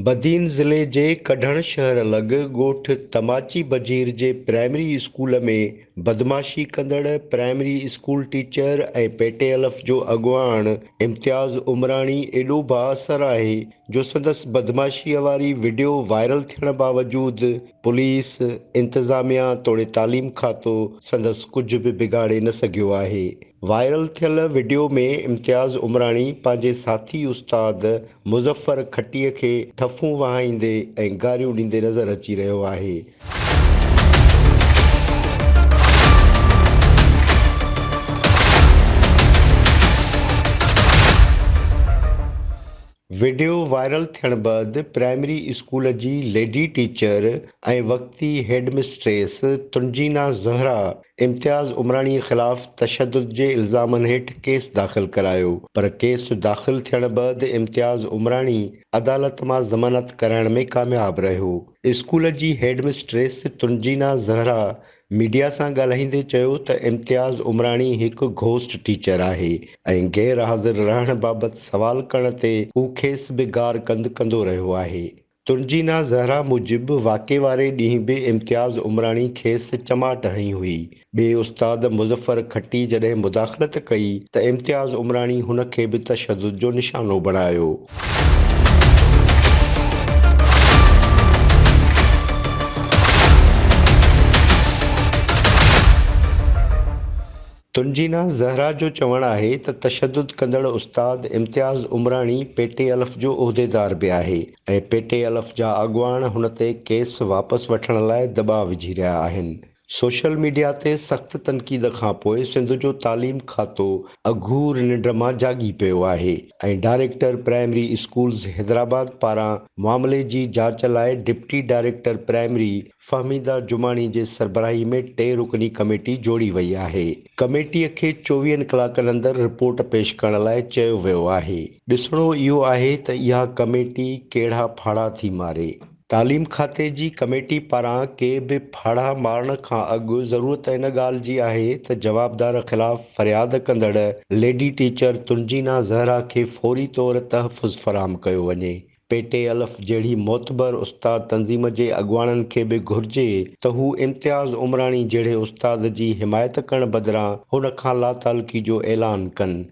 بدين ضلعي جي ڪڍڻ شهر لڳ ڳوٺ تماچي بجير جي پرائمري اسڪول ۾ بدمعاشي ڪندڙ primary school teacher ۽ P T الف جو اڳواڻ امتياز عمراڻي ايڏو بااثر آهي جو سندس بدمعاشيء واري وڊيو وائرل ٿيڻ باوجود پوليس، انتظاميا توڙي تعليم کاتو سندس ڪجهه به بگاڙي نه سگهيو آهي. وائرل ٿيل وڊيو ۾ امتياز عمراڻي پنهنجي ساٿي استاد مظفر کٽيء کي ٿڦون وهائيندي ۽ گاريون ڏيندي نظر اچي رهيو آهي. وڊيو وائرل ٿيڻ بعد پرائمري اسڪول جي ليڊي ٽيچر ۽ وقتي هيڊمسٽريس تنجينا زهره امتياز عمراڻي خلاف تشدد جي الزامن هيٺ ڪيس داخل ڪرايو پر ڪيس داخل ٿيڻ بعد امتياز عمراڻي عدالت مان ضمانت ڪرائڻ ۾ ڪامياب رهيو. اسڪول جي headmistress Tanjina Zahra media سان ڳالهائيندي چيو ته امتياز عمراڻي هڪ گهوسٽ ٽيچر آهي ۽ غير حاضر رهڻ بابت سوال ڪرڻ تي هو کيس به گار ڪند ڪندو رهيو آهي. تنجينا زهرا موجب واقعي واري ڏينهن به امتياز عمراڻي کيس چماٽ هنئي هئي ٻئي استاد مظفر کٽي جڏهن مداخلت ڪئي ته امتياز عمراڻي هن کي به تشدد جو نشانو بڻايو. تنجينا زهرا جو چوڻ آهي ته تشدد ڪندڙ استاد امتياز عمراڻي پي ٽي الف جو عهديدار به آهي ۽ پي ٽي الف جا اڳواڻ هن تي ڪيس واپس وٺڻ لاء دٻاء وجهي رهيا آهن. سوشل ميڊيا تي سخت تنقيد کانپوء سنڌ جو تعليم کاتو اگهور ننڊ مان جاڳي پيو آهي ۽ ڊائريڪٽر پرائمري اسڪولز حيدرآباد پاران معاملي جي جاچ لاء deputy director primary Fahmida Jamani جي سربراهي ۾ ٽي رڪني ڪميٽي جوڙي وئي آهي ڪميٽي کي چوويهن ڪلاڪن اندر رپورٽ پيش ڪرڻ لاء چيو ويو آهي ڏسڻو اهو آهي ته اها ڪميٽي ڪهڙا ڦاڙها ٿي ماري. تعليم کاتي جي ڪميٽي پاران ڪي به ڦاڙها مارڻ کان اڳ ضرورت ان ڳالهه جي آهي ته جوابدار خلاف فرياد ڪندڙ ليڊي ٽيچر تنجينا زهرا کي فوري طور تحفظ فراهم ڪيو وڃي. پي ٽي الف جهڙي معتبر استاد تنظيم جي اڳواڻن کي به گهرجي ته هو امتياز عمراڻي جهڙي استاد جي حمايت ڪرڻ بدران هن کان لاتعلقي جو اعلان ڪن